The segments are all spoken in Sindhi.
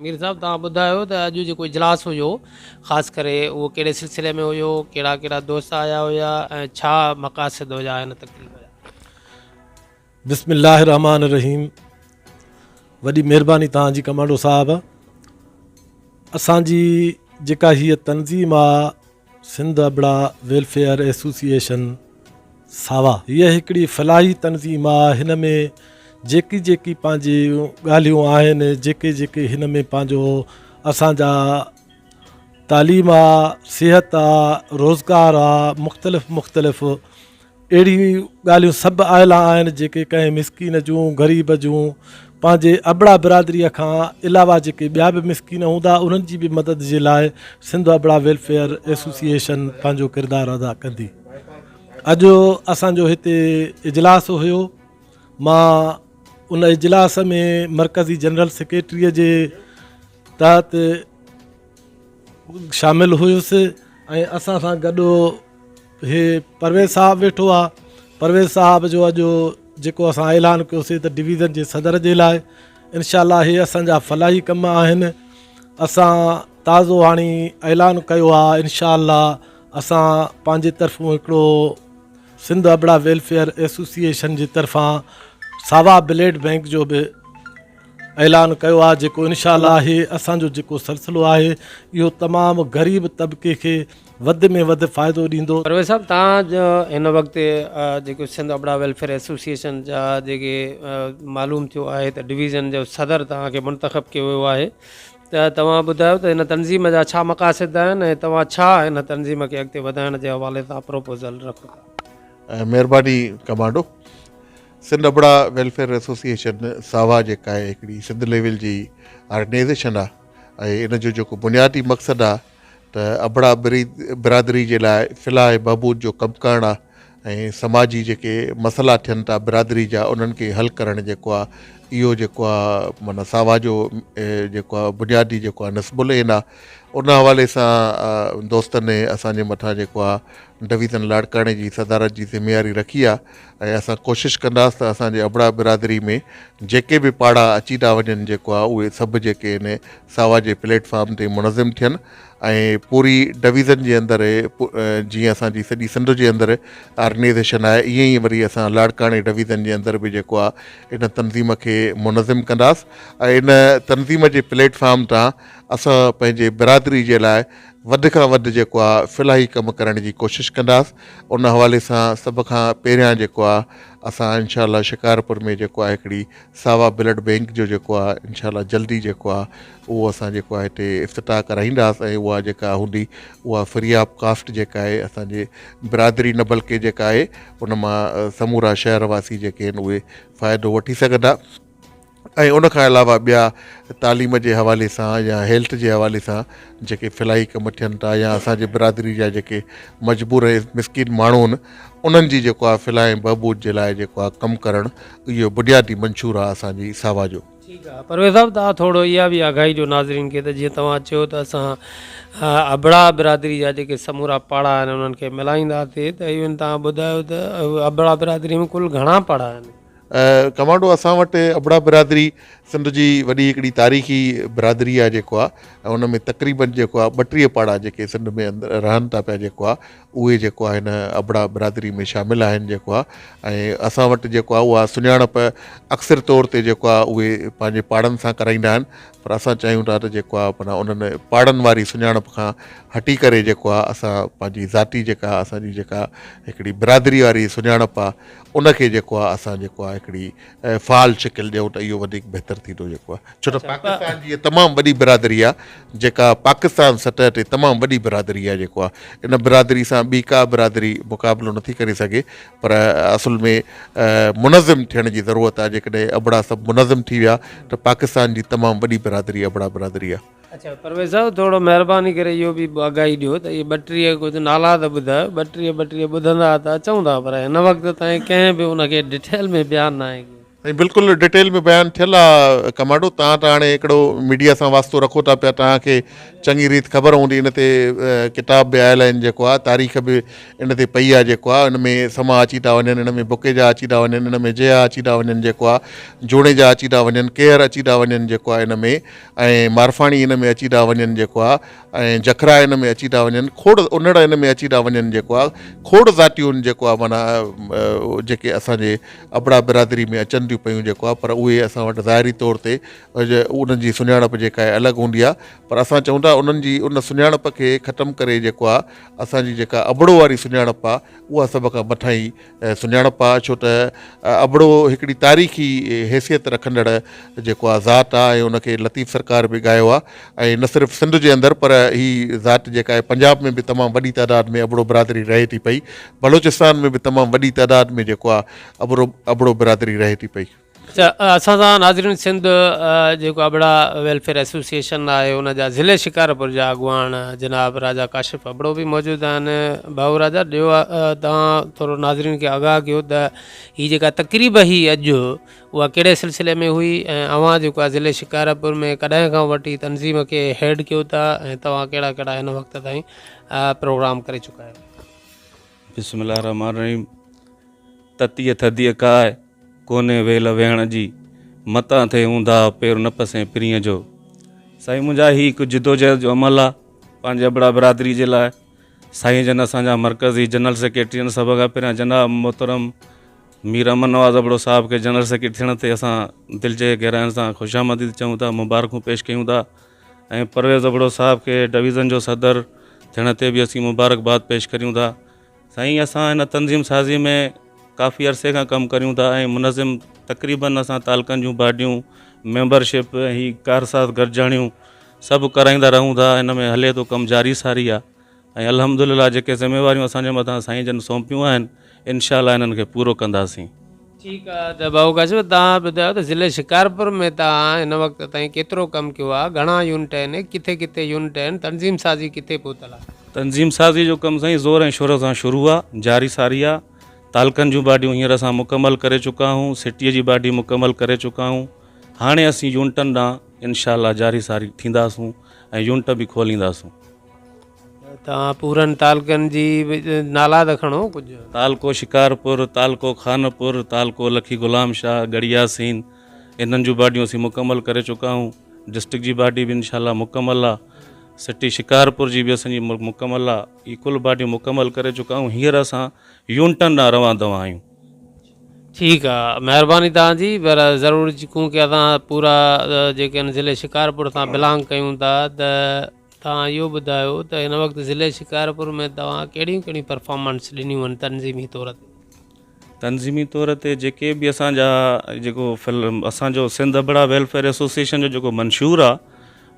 مير صاحب توهان ٻڌايو ته اڄ جيڪو اجلاس هيو خاص ڪري اهو ڪهڙي سلسلي ۾ هيو ڪهڙا ڪهڙا دوست آيا هيا ۽ ڇا مقاصد هيا هن تقريب جا بسم الله الرحمن الرحيم وڏي مهرباني توهان جي ڪمانڊو صاحب اسان جي جيڪا هي تنظيم آ سنڌ ابڙا ويلفيئر ايسوسيئيشن ساوا هيء هڪڙي فلاحي تنظيم آ هن ۾ جيڪي جيڪي پنهنجي ڳالهيون آهن جيڪي جيڪي هن ۾ پنهنجو اسان جا تعليم آ صحت آ روزگار آ مختلف مختلف اهڙيون ئي ڳالهيون سڀ آيلا آهن جيڪي ڪنهن مسڪين جون، غريب جون، پنهنجي ابڙا برادريء کان علاوه جيڪي ٻيا به مسڪين هوندا انهن جي به مدد جي لاء سنڌ ابڙا ويلفيئر ايسوسيئيشن پنهنجو ڪردار ادا ڪندي. اڄ اسان جو هتي اجلاس هيو مان ان اجلاس ۾ مرڪزي جنرل سيڪريٽري جي تحت شامل هيس ۽ اسان سان گڏ هي پرويز صاحب ويٺو آ پرويز صاحب جو اڄ جيڪو اسان اعلان ڪيوسي ته ڊويزن جي صدر جي لاء انشاء الله هي اسان جا فلاحي ڪم آهن اسان تازو هاڻي اعلان ڪيو آ انشاء الله اسان پنهنجي طرفون هڪڙو سنڌ ابڙا ويلفيئر ايسوسيئيشن جي طرفان ساوا بليڊ بينڪ جو به اعلان ڪيو آ جيڪو انشاء الله هي اسان جو جيڪو سلسلو آهي اهو تمام غريب طبقي کي وڌ ۾ وڌ فائدو ڏيندو. پرويز صاحب توهان هن وقت جيڪو سنڌ ابڙا ويلفيئر ايسوسيئيشن جا جيڪي معلوم ٿيو آهي ته ڊويزن جو صدر توهان کي منتخب ڪيو ويو آهي ته توهان ٻڌايو ته هن تنظيم جا ڇا مقاصد آهن ۽ توهان ڇا هن تنظيم کي اڳتي وڌائڻ جي حوالي سان پروپوزل رکو ٿا. مهرباني commando. Sindh Abra welfare association ساوا جيڪا هڪڙي سنڌ ليول جي آرگنائيزيشن آهي ۽ ان جو جيڪو بنيادي مقصد آهي ته ابڙا برادري جي لاء فلاح بهبود جو ڪم ڪرڻ آ ۽ سماجي جيڪي مسئلا ٿين ٿا برادري جا انهن کي حل ڪرڻ جيڪو آ اهو جيڪو آ معنيٰ ساوا جو جيڪو آ بنيادي جيڪو آ نصب العين آ ان حوالي سان دوستن اسان جي مٿان جيڪو آ ڊويزن لاڙڪاڻي جي صدارت جي ذميواري رکي آ ۽ اسان ڪوشش ڪنداس ته اسان جي ابڙا برادري ۾ جيڪي به پاڙا اچي ٿا وڃن جيڪو آ اهي سڀ جيڪي ان ساوا جي پليٽ فارم تي منظم ٿين ۽ پوري ڊويزن جي اندر جيئن اسان جي سڄي سنڌ جي اندر آرگنيزيشن آهي ايئن ئي وري اسان لاڙڪاڻي ڊويزن جي اندر به جيڪو آ ان تنظيم کي منظم ڪنداس ۽ ان تنظيم جي پليٽ فارم تان اسان پنهنجي برادري جي لاء وڌ کان وڌ جيڪو آ فلاحي ڪم ڪرڻ جي ڪوشش ڪنداس ان حوالي سان سڀ کان پهريان جيڪو آ اسان انشاء الله شڪارپور ۾ جيڪو آ هڪڙي ساوا بلڊ بينڪ جو جيڪو آ انشاء الله جلدي جيڪو آ اهو اسان جيڪو آ هتي افتتاح ڪرائينداس ۽ اها جيڪا هوندي اها فري آف ڪاسٽ جيڪا آهي اسان جي برادري نه بلڪه جيڪا آهي ان مان سمورا شهر واسي جيڪي آهن اهي فائدو وٺي سگهندا ۽ ان کان علاوه ٻيا تعليم جي حوالي سان يا هيلٿ جي حوالي سان جيڪي فلاحي ڪم ٿين ٿا يا اسانجي برادري جا جيڪي مجبور ۽ مسڪين ماڻهو آهن انهن جي جيڪو آهي فلاح ۽ بهبود جي لاء جيڪو آهي ڪم ڪرڻ اهو بنيادي منشور آهي اسانجي ساوا جو. ٺيڪ آ پرويز صاحب تان ٿورڙو اها به آگاهي ڏيو ناظرين کي ته جيئن توهان چيو ته اسان ابڙا برادري جا جيڪي سمورا پاڙا آهن انهن کي ملائينداسي ته ايون تان ٻڌايو ته ابڙا برادري ۾ ڪل گهڻا پاڙا آهن ڪمانڊو اسان وٽ ابڙا برادري سنڌ جي وڏي هڪڙي تاريخي برادري آهي جيڪو آهي ان ۾ تقريبن جيڪو آهي ٻٽيهه پاڙا جيڪي سنڌ ۾ اندر رهن ٿا پيا جيڪو آهي اهي جيڪو آهي هن ابڙا برادري ۾ شامل آهن جيڪو آهي ۽ اسان وٽ جيڪو آهي اها سڃاڻپ اڪثر طور تي جيڪو آهي اهي پنهنجي پاڙن سان ڪرائيندا آهن پر اسان چاهيون ٿا ته جيڪو آهي مانا انهن پاڙن واري سڃاڻپ کان هٽي ڪري جيڪو آهي اسان پنهنجي ذاتي جيڪا اسانجي جيڪا هڪڙي برادري واري سڃاڻپ آهي ان کي جيڪو آهي اسان جيڪو آهي هڪڙي فعال شڪل ڏيون ته اهو وڌيڪ بهتر ٿيندو جيڪو آهي ڇو ته پاڪستان جي تمام وڏي برادري آهي جيڪا پاڪستان سطح تي تمام وڏي برادري آهي جيڪو آهي ان برادري سان ٻي ڪا برادري مقابلو نٿي ڪري سگهي پر اصل ۾ منظم ٿيڻ جي ضرورت آهي جيڪڏهن ابڙا سڀ منظم ٿي ويا ته پاڪستان جي تمام وڏي برادري ابڙا برادري آهي اچا پرويز صاحب ٿورو مھرباني ڪري اھو به آگاھي ڏيو ته اھي ٻٽيھه ڪجھ نالا ته ٻڌايو ٻٽيھه ٻٽيھه ٻڌندا ته اچئون ٿا پر ھن وقت تائين ڪنھن به ان کي ڊٽيل ۾ بيان ناھي ڪيو. سائين بلڪل ڊٽيل ۾ بيان ٿيل آ ڪمانڊو تان ته ھاڻي ھڪڙو ميڊيا سان واسطو رکو ٿا پيا تان کي چڱي ريت خبر ھوندي ان تي ڪتاب به آيل آھن جيڪو آ تاريخ به ان تي پئي آ جيڪو آ ان ۾ سما اچي ٿا وڃن ان ۾ بڪيجا اچي ٿا وڃن ان ۾ جيھا اچي ٿا وڃن جيڪو آ جوڻيجا اچي ٿا وڃن ڪيھر اچي ٿا وڃن جيڪو آ ان ۾ ۽ مارفاڻي ان ۾ اچي ٽا وڃن جيڪو آ ۽ جکرا ان ۾ اچي ٽا وڃن کوڙ انڙ ان ۾ اچي ٽا وڃن جيڪو آ کوڙ ذاتيون جيڪو آ معنيٰ جيڪي اسان جي ابڙا برادري ۾ اچن ٿيون پيون جيڪو آ پر اهي اسان وٽ ظاهري طور تي انهن جي سڃاڻپ جيڪا آهي الڳ هوندي آ پر اسان چئون ٿا انهن جي ان سڃاڻپ کي ختم ڪري جيڪو آ اسان جي جيڪا ابڙو واري سڃاڻپ آ اها سڀ کان مٿاهين سڃاڻپ آ ڇو ته ابڙو هڪڙي تاريخي حيثيت رکندڙ جيڪو آ ذات آ ۽ ان کي لطيف سرڪار به ڳايو آ ۽ نه صرف سنڌ جي اندر پر هي ذات جيڪا آهي پنجاب ۾ به تمام وڏي تعداد ۾ ابڙو برادري رهي ٿي پئي بلوچستان ۾ به تمام وڏي تعداد ۾ جيڪو آ ابڙو ابڙو برادري رهي ٿي پئي. اسان سان ناظرين سنڌ جيڪو ابڙا ويلفيئر ايسوسيئيشن آهي ان جا ضلعي شڪارپور جا اڳواڻ جناب راجا ڪاشف ابڙو به موجود آهن ڀائو راجا ڏيو توهان ٿورو ناظرين کي آگاهه ڪيو ته هي جيڪا تقريب هي اڄ اها ڪهڙي سلسلي ۾ هئي ۽ اوهان جيڪو آهي ضلعي شڪارپور ۾ ڪڏهن کان وٺي تنظيم کي هيڊ ڪيو ٿا ۽ توهان ڪهڙا ڪهڙا هن وقت تائين پروگرام ڪري چڪا آهيو بسم الله الرحمن الرحيم تتيء ٿڌيء ڪاهه ڪونهي ويل ويهڻ جي، متان ٿئي اونداهه پير نه پسين پرينء جو. سائين منهنجا هي هڪ جدوجهد جو عمل آ پنهنجي ابڙا برادري جي لاء سائين جن اسان جا مرڪزي جنرل سيڪريٽرين سڀ کان پهريان جناب محترم مير امن نواز ابڙو صاحب کي جنرل سيڪريٽري ٿيڻ تي اسان دل جي گهراين سان خوش آمديد چئون ٿا مبارڪون پيش ڪيون ٿا ۽ پرويز ابڙو صاحب کي ڊويزن جو صدر ٿيڻ تي به اسين مبارڪباد پيش ڪريون ٿا سائين اسان هن تنظيم سازي ۾ ڪافي عرصي کان ڪم ڪريون ٿا ۽ منظم تقريبن اسان تعلقن جون باڊيون ميمبر شپ ۽ هي ڪارساز گڏجاڻيون سڀ ڪرائيندا رهون ٿا هن ۾ هلي ٿو ڪم جاري ساري آ ۽ الحمدلله جيڪي ذميواريون اسان جي مٿان سائين جن سونپيون آهن انشاء الله انهن کي پورو ڪنداسين. ٺيڪ آ ته ڀائو ڪاشف توهان ٻڌايو ته ضلعي شڪارپور ۾ توهان هن وقت تائين ڪيترو ڪم ڪيو آ گهڻا يونٽ آهن ڪٿي ڪٿي يونٽ آهن تنظيم سازي ڪٿي پهتل آ. تنظيم سازي جو ڪم سائين زور ۽ شور سان شروع آ جاري ساري آ تعلقن جون باڊيون هينئر اسان مڪمل ڪري چڪا آهون سٽي جي باڊي مڪمل ڪري چڪا آهون هاڻي اسين يونٽن ڏانهن انشاء الله جاري ساري ٿينداسون ۽ يونٽ به کولينداسون. توهان پورن تعلقن جي نالا ته کڻو ڪجهه. تعلقو شڪارپور، تعلقو خانپور، تعلقو لکي غلام شاهه، ڳڙهي ياسين انهن جون باڊيون اسين مڪمل ڪري چڪا آهيون. ڊسٽرڪٽ جي باڊي به انشاء الله مڪمل آ. سٽي شڪارپور جي به اسان جي مڪمل آ. هي ڪل باڊيون مڪمل ڪري چڪا آهيون. هينئر اسان يونٽن ڏانهن روان دوان آهيون. ٺيڪ آ مهرباني توهان جي پر ضرور چونڪه اسان پورا جيڪي آهن ضلعي شڪارپور سان بلانگ ڪيون ٿا ته. توهان اهو ٻڌايو ته هن وقت ضلعي شڪارپور ۾ توهان ڪهڙيون ڪهڙيون پرفارمنس ڏنيون آهن تنظيمي طور تي؟ تنظيمي طور تي جيڪي به اسان جا جيڪو فلم اسان جو سنڌ ابڙا ويلفيئر ايسوسيئيشن جو جيڪو منشور آ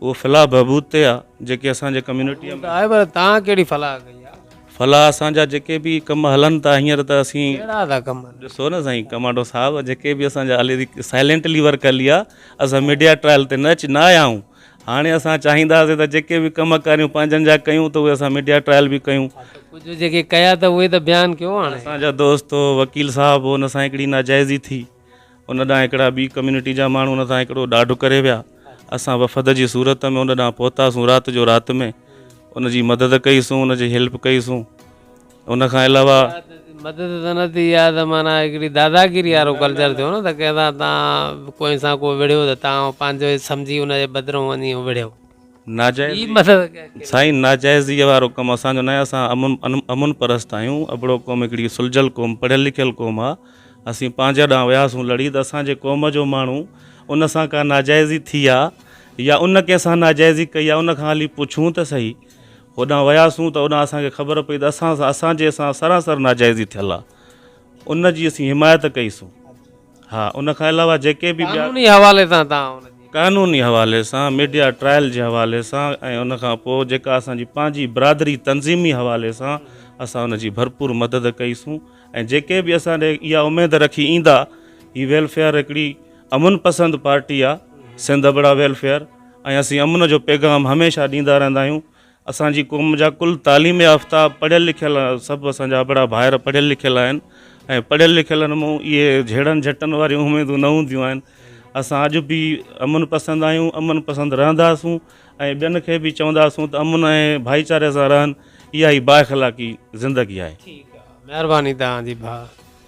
اهو فلاح بهبود تي آ جيڪي اسان جي ڪميونٽيء ۾ آهي پر توهان ڪهڙي فلاح ڪئي آ؟ فلاح اسان جا جيڪي به ڪم هلن ٿا هينئر ته اسين ڪهڙا ٿا ڪم هلن؟ ڏسو نه سائين ڪمانڊو صاحب جيڪي به اسان جا هلي سائلينٽلي ورڪ هلي آ اسان ميڊيا ٽرائل تي نه اچي نه آيا آهيون هاڻي اسان چاهينداسين ته جيڪي به ڪم ڪاريون پنهنجن جا ڪيون ته اهي اسان ميڊيا ٽرائل به ڪيون. ها ته ڪجهه جيڪي ڪيا ته اهي ته بيان ڪيو هاڻي. اسان جا دوست وڪيل صاحب ان سان هڪڙي ناجائزي ٿي ان ڏانهن هڪڙا ٻي ڪميونٽي جا ماڻهو ان سان هڪڙو ڏاڍ ڪري ويا اسان وفد جي صورت ۾ ان ڏانهن پهتاسون رات جو رات ۾ ان جي مدد ڪئي سون ان جي هيلپ ڪئي سون. ان کان علاوه. مدد ته نه ٿي اها ته معنيٰ هڪڙي داداگيري وارو ڪلچر ٿيو نه ته ڪنهن سان تان ڪنهن سان ڪو وڙهيو ته تان هو پنهنجو ئي سمجهي ان جي بدرون وڃي هو وڙهيو. ناجائز ٻي مدد ڪنهن کي. سائين ناجائزيء وارو ڪم اسان جو ناهي اسان امن امن پرست آهيون ابڙو قوم هڪڙي سلجهيل قوم پڙهيل لکيل قوم آ اسين پنهنجي ڏانهن وياسون لڙي ته اسان جي قوم جو ماڻهو ان سان ڪا ناجائزي ٿي آ يا ان ڪنهن سان ناجائزي ڪئي آ ان کان هلي پڇون ته سهي هوڏانهن وياسون ته اوڏانهن اسان کي خبر پئي ته اسان سان اسان جي سان سراسر ناجائزي ٿيل آهي ان جي اسين حمايت ڪئي سون ها ان کان علاوه جيڪي به ٻيا قانوني حوالي سان توهان ان جي. قانوني حوالي سان ميڊيا ٽرائل جي حوالي سان ۽ ان کان پوء جيڪا اسان جي پنهنجي برادري تنظيمي حوالي سان اسان ان جي ڀرپور مدد ڪئي سون ۽ جيڪي به اسان ڏي اها اميد رکي ايندا هي ويلفيئر هڪڙي امن پسند پارٽي آ سنڌ ابڙا ويلفيئر ۽ اسين امن جو پيغام هميشه ڏيندا رهندا آهيون اسان جي قوم جا ڪل تعليم يافته پڙهيل لکيل سڀ اسان جا ابڙا ڀائر پڙهيل لکيل آهن ۽ پڙهيل لکيلن مون اهي جهيڙن جهٽن واريون اميدون نه هونديون آهن اسان اڄ به امن پسند آهيون امن پسند رهنداسون ۽ ٻين کي به چونداسون ته امن ۽ ڀائيچاري سان رهن اها ئي بااخلاقي زندگي آهي مهرباني توهان جي ڀاء